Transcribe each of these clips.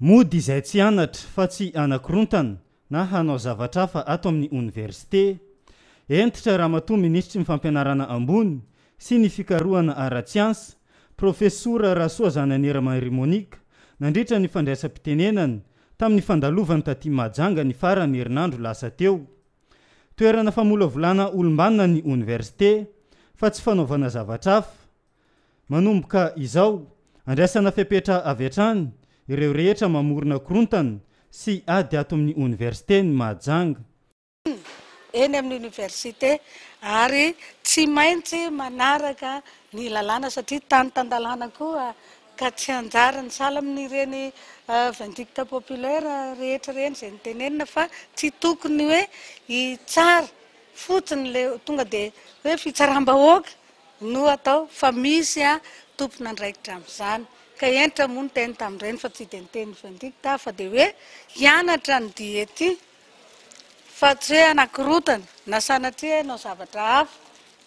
Mody izay tsy anatra fa tsy anakorontana na hanao zavatra hafa ato amin'ny oniversite. Hentitra Ramatoa Minisitry ny Fampianarana Ambony sy ny Fikarohana Ara-tsiansa, Profesora Rasoa Zananiera Marie Monique, nandritra ny fandraisam-pitenenany tamin'ny fandalovany taty Mahajanga ny faran'ny herinandro lasa teo. Toerana famolavolana olom-banona ny oniversite fa tsy fanaovana zavatra hafa. Manomboka izao, andraisana fepetra avy hatrany ireo rehetra mamorona korontana sy ady ato amin'ny Oniversite ny Mahajanga. eny amin'ny Oniversite ary tsy maintsy manaraka ny lalàna satria tany tan-dalàna koa ka tsy anjarany sahala amin'ireny vindicte populaire rehetra ireny izay nitenenina fa tsy tokony hoe hitsara fotsiny ilay tonga dia hoe fitsaram-bahoaka No atao fa misy an tompon'andraikitra amin'izany ka hentra moa ny teny tamin'ireny fa tsy dia ny teny vindicte aho fa dia hoe hianatra ny dihy ety fa tsy hoe hanakorotana na sanatria hanao zavatra hafa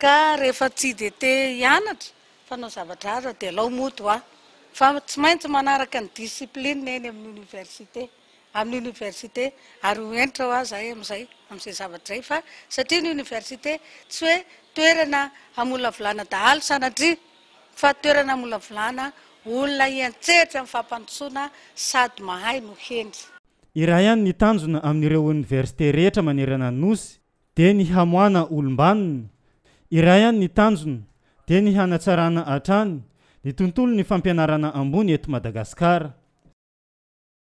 ka rehefa tsy dia te hianatra fa hanao zavatra hafa dia alao moa toa fa tsy maintsy manaraka ny discipline eny amin'ny université. amin'ny Université ary ho hentra hoa zahay amin'izay amin'izay zavatra izay fa satria ny Université tsy hoe toerana hamolavolana dahalo sanatria fa toerana hamolavolana olona hiantsehatra amin'ny fampandrosoana sady mahay no hendry. Iray ihany ny tanjona amin'ireo Université rehetra manerana ny Nosy dia ny hamoahana olom-banona, iray ihany ny tanjona dia ny hanatsarana hatrany ny tontolon'ny fampianarana ambony eto Madagasikara.